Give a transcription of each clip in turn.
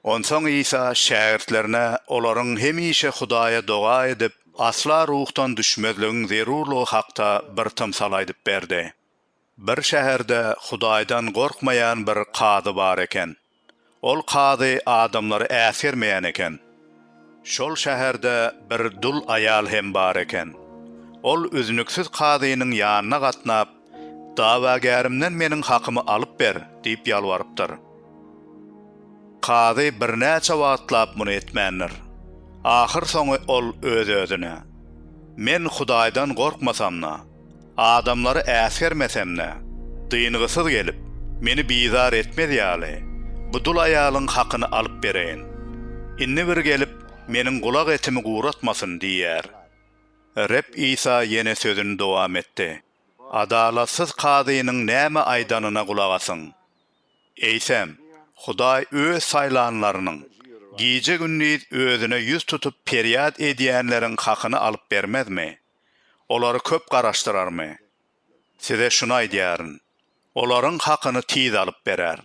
Onsoň Isa şägirtlerine olaryň hemişe Hudaýa doga edip, asla ruhdan düşmezligiň zerurlygy hakda bir tymsal aýdyp berdi. Bir şäherde Hudaýdan gorkmaýan bir kazy bar eken. Ol kazy adamlary äsgermeýän eken. Şol şäherde bir dul aýal hem bar eken. Ol üznüksiz kazynyň ýanyna gatnap, Dawagärimden meniň hakymy alyp ber! diýip ýalbarypdyr. Kazy birnäçe wagtlap muny etmändir. Ahyrsoňy ol öz-özüne, Men Hudaýdan gorkmasam-da, Adamlary äsgermesem-de, dyngysyz gelip, meni bizar etmez ýaly, bu dul aýalyň hakyny alyp bereýin. Indi bir gelip, meniň gulak etimi guratmasyn, diýýär. Reb Isa ýene sözüni dowam etdi, Adalatsyz kazynyň näme aýdanyna gulak asyň. Eýsem, Hudaý Öz saýlanlarynyň, gije-gündiz Özüne ýüz tutup perýat edýänleriň hakyny alyp bermezmi? Olary köp garaşdyrarmy? Size şuny aýdýaryn, olaryň hakyny tiz alyp berer.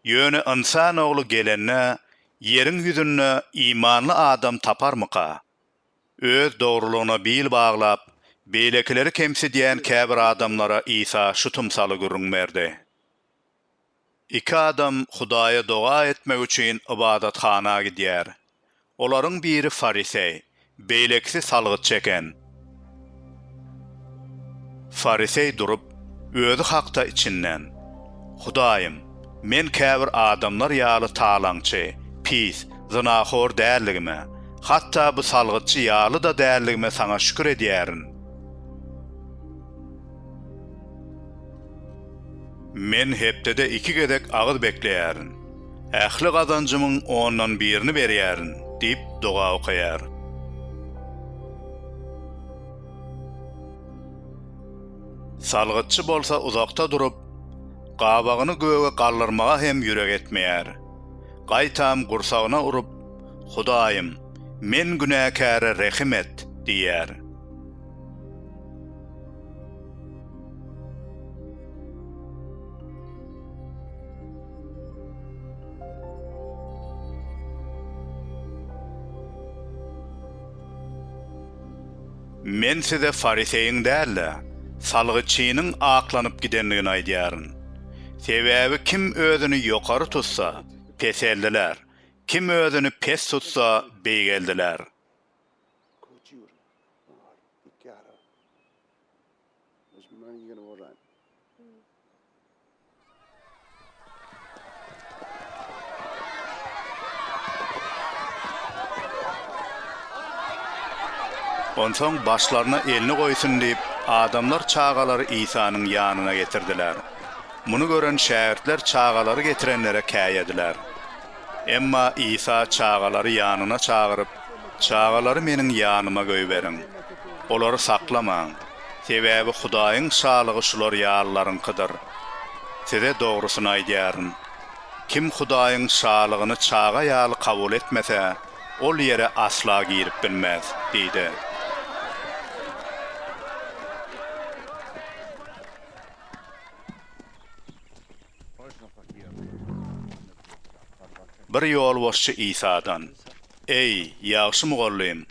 Ýöne Ynsan Ogly gelende, ýeriň ýüzünde imanly adam taparmyka? Öz dogrulygyna bil baglap, beýlekileri kemsidýän käbir adamlara Isa şu tymsaly gürrüň berdi. Iki adam Hudaýa doga etmek üçin ybadathana gidýär. Olaryň biri fariseý, beýlekisi salgyt çeken. Fariseý durup, özi hakda içinden, Hudaýym, men käbir adamlar ýaly talaňçy, pis, zynahor däldigime, hatda bu salgytçy ýaly-da däldigime Saňa şükür edýärin. Men hepdede iki gezek agyz bekleýärin. Ähli gazanjymyň ondan birini berýärin diýip doga okaýar. Salgytçy bolsa uzakda durup, gabagyny göge galdyrmaga hem ýürek etmeýär. Gaýtam gursagyna urup, Hudaýym, men günäkäre rehim et! diýýär. Men size fariseýiň däl-de, salgytçynyň aklanyp gidendigini aýdýaryn. Sebäbi kim özüni ýokary tutsa, peseldiler, kim özüni pes tutsa, beýgeldiler. Köçür mal ityara. Musulman ýigini bolan. Onsoň başlaryna elini goýsun diýip, adamlar çagalary Isanyň ýanyna getirdiler. Muny gören şägirtler çagalary getirenlere käýediler. Emma Isa çagalary ýanyna çagyryp, Çagalary meniň ýanyma goýberiň. Olary saklamaň. Sebäbi Hudaýyň şalygy şular ýalylaryňkydyr. Size dogrusyny aýdýaryn, kim Hudaýyň Şalygyny çaga ýaly kabul etmese, ol ýere asla girip bilmez diýdi. Bir ýolbaşçy Isadan, Eý, ýagşy mugallym,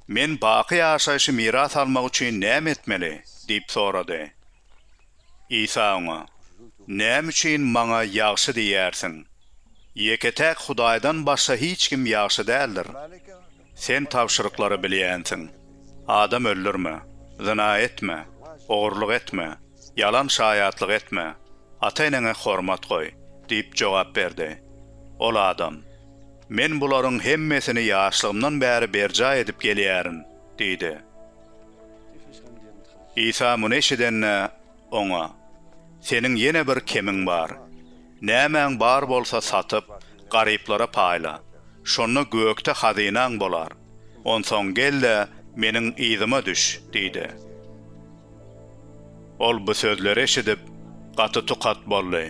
men baky ýaşaýşy miras almak üçin näme etmeli? diýip sorady. Isa oňa, Näme üçin Maňa ýagşy diýýärsiň? Ýeke-täk Hudaýdan başga hiç kim ýagşy däldir. Sen tabşyryklary bilýänsiň, Adam öldürme, zyna etme, ogurlyk etme, ýalan şaýatlyk etme, ata-eneňe hormat goý diýip jogap berdi. Ol adam, Men bularyň hemmesini ýaşlygymdan bäri berjaý edip gelýärin diýdi. Isa muny eşidende, Oňa, Seniň ýene bir kemiň bar. Nämäň bar bolsa satyp, garyplara paýla. Şonda gökde hazynaň bolar. Onsoň gel-de, meniň yzyma düş diýdi. Ol bu sözleri eşidip, gaty tukat boldy.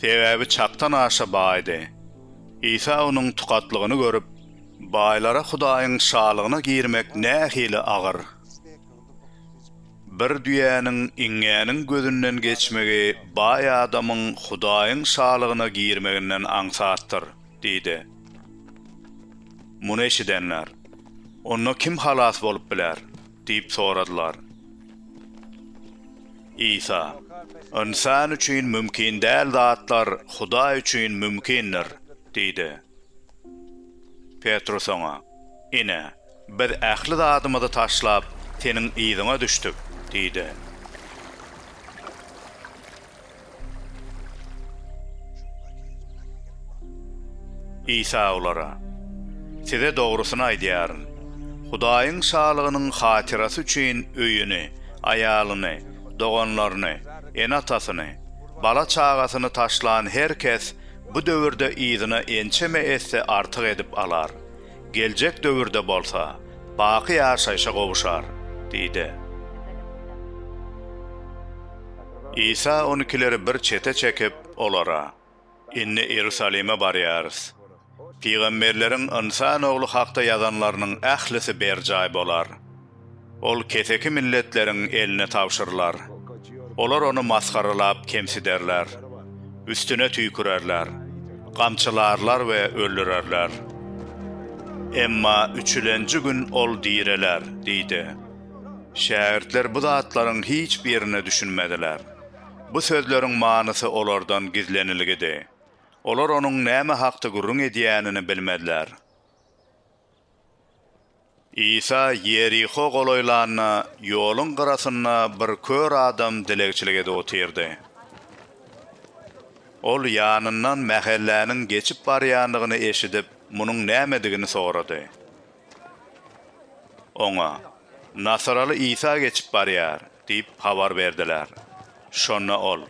Sebäbi çakdan aşa baýdy. Isa onuň tukatlygyny görüp, Baýlara Hudaýyň Şalygyna girmek nähili agyr! Bir düýäniň iňňäniň gözünden geçmegi baý adamyň Hudaýyň Şalygyna girmeginden aňsatdyr diýdi. Muny eşidenler, Onda kim halas bolup biler? diýip soradylar. Isa, Ynsan üçin mümkin däl zatlar Hudaý üçin mümkindir diýdi. Petrus oňa, Ine, Biz ähli zadymyzy taşlap, seniň yzyňa düşdük, diýdi. Isa olara, Size dogrusyny aýdýaryn, Hudaýyň Şalygynyň hatyrasy üçin öýüni, aýalyny, doganlaryny, ene-atasyny, bala-çagasyny taşlan her kes bu döwürde yzyna ençeme esse artyk edip alar, geljek döwürde bolsa baky ýaşaýşa gowuşar diýdi. Isa on ikileri bir çete çekip, olara, Indi Iýerusalime barýarys. Pygamberleriň Ynsan Ogly hakda ýazanlarynyň ählisi berjaý bolar. Ol keseki milletleriň eline tabşyrylar. Olar ony masgaralap kemsiderler, üstüne tüýkürerler, gamçylarlar we öldürerler. Emma üçülenji gün ol direler diýdi. Şägirtler bu zatlaryň hiç birine düşünmediler. Bu sözleriň manysy olardan gizlenilgidi. Olar onuň näme hakda gürrüň edýänini bilmediler. Isa Ýeriho golaýlanda, ýoluň gyrasynda bir kör adam dilegçilik edip otyrdy. Ol ýanyndan mähelläniň geçip barýandygyny eşidip, munuň nämedigini sorady. Oňa, Nasaraly Isa geçip barýar diýip habar berdiler. Şonda ol,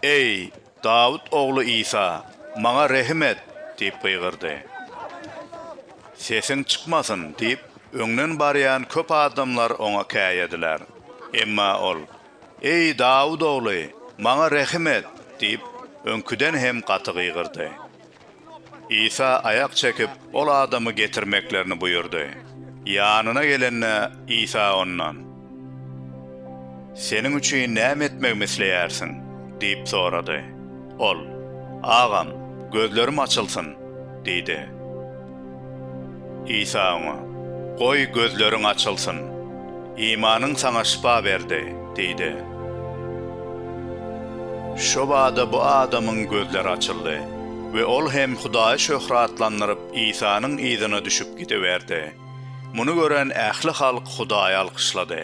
Eý, Dawut ogly Isa, maňa rehim et! diýip gygyrdy. Sesiň çykmasyn! diýip, öňden barýan köp adamlar oňa käýediler. Emma ol, Eý, Dawut ogly, maňa rehim et! diýip, öňküden hem gaty gygyrdy. Isa aýak çekip, ol adamy getirmeklerini buýurdy. Ýanyna gelende, Isa ondan, Seniň üçin näme etmegimi isleýärsiň? diýip sorady. Ol, Agam, gözlerim açylsyn! diýdi. Isa oňa, Goý, gözleriň açylsyn. Imanyň saňa şypa berdi diýdi. Şobada bu adamyň gözleri açyldy we ol hem Hudaýy şöhratlandyryp, Isanyň yzyna düşüp gidiberdi. Muny gören ähli halk Hudaýy alkyşlady.